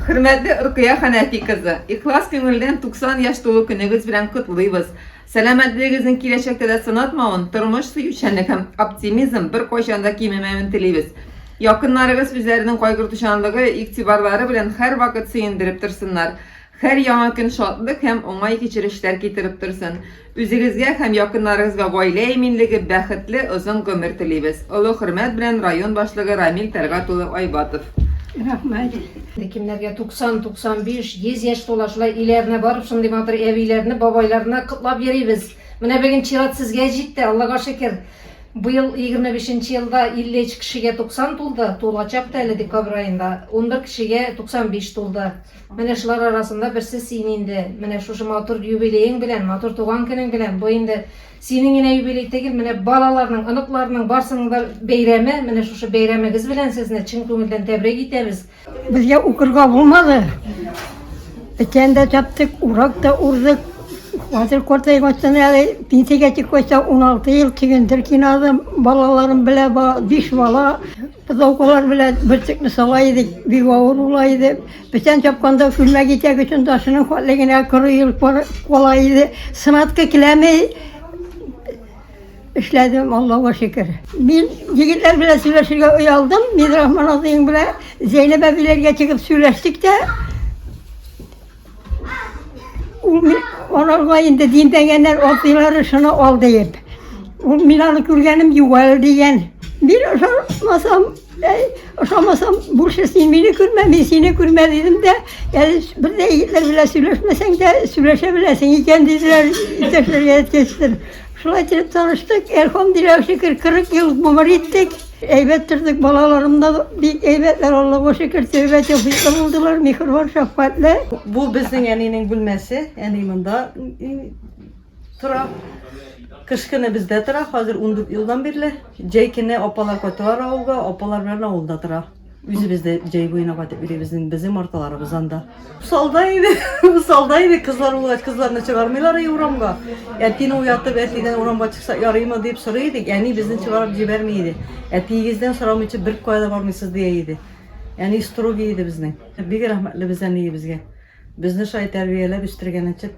Хөрмәтле Рукыя Хәнәфи кызы! Ихлас күңелдән 90 яшь тулу көнегез белән котлыйбыз! Сәламәтлегегезнең киләчәктә дә сынатмавын, тормыш сөючәнлек һәм оптимизм беркайчан да кимемәвен телибез. Якыннарыгыз үзләренең кайгыртучанлыгы, игътибарлары белән һәрвакыт сөендереп торсыннар. Һәр яңа көн шатлык һәм уңай кичерешләр китереп торсын. Үзегезгә һәм якыннарыгызга гаилә иминлеге, бәхетле, озын гомер телибез. Олы хөрмәт белән район башлыгы Рамил Тәлгат улы Айбатов. Рәхмәт. Кемнәргә 90, 95, 100 яшь тула, шулай өйләренә барып шундый матур әбиләрне, бабайларны котлап йөрибез. Менә бүген чират сезгә җитте, Аллага шөкер. Быел 25 нче елда 53 кешегә 90 тулды, тулачак та әле декабрь аенда, унбер кешегә 95 тулды. Менә шулар арасында берсе син инде. Менә шушы матур юбилеең белән, матур туган көнең белән, бу инде синең генә юбилей тегел, менә балаларның, оныкларның барсының да бәйрәме, менә шушы бәйрәмегез белән сезне чын күңелдән тәбрик итәбез. Безгә укырга булмады. Печән дә чаптык, урак та урдык. Хәзер картайып аттым әле, пенсиягә чыккач та 16 ел чөгендер кинадым, балаларым белән, биш бала. Пыдаукалар белән бөртекне сала идек, бик авыр була иде. Бүтән чапканда күлмәк итәк өчен ташының хәтле генә коры елып кала иде. Сынатка киләме эшләдем, Аллаһуга шөкер. Мин егетләр белән сөйләшергә оялдым. Мин Рахман абыең белән Зәйнәб әбиләргә чыгып сөйләштек тә. Ул ми- аларга инде димпәгәннәр абзыйлары шуны ал диеп. Ул мин аны күргәнем юк әле дигән. Мин ошамасам, әй, ошамасам, бурчы син мине күрмә, мин сине күрмә дидем дә, әле с- бер дә егетләр белән сөйләшмәсәң дә, сөйләшә беләсең икән диделәр, иптәшләргә әйткәчтер. Шулай итеп таныштык, әлхамдулилла шөкер, 40 ел гомер иттек. Әйбәт тордык, балаларым да бик әйбәтләр, Аллага шөкер, тәүбә тәүфиклы булдылар, миһербан, шәфкатьле. Бу безнең әнинең бүлмәсе, әни монда тора. Кыш көне бездә тора, хәзер ундүрт елдан бирле. Җәй көне апалар кайталар авылга, апалар белән авылда тора. Үзебез дә җәй буена кайтып йөрибез инде, безнең марталарыбыз анда. Усалда иде, усалда иде, кызлар булгач, кызларны чыгармыйлар и урамга. Әтине уятып, әтидән урамга чыкса ярыймы дип сорый идек, әни безне чыгарып җибәрми иде. Әтиегездән сорамыйча бер кая да бармыйсыз дия иде. Әни строгий иде безнең. Бик рәхмәтле без әниебезгә. Безне шулай тәрбияләп үстергән өчен.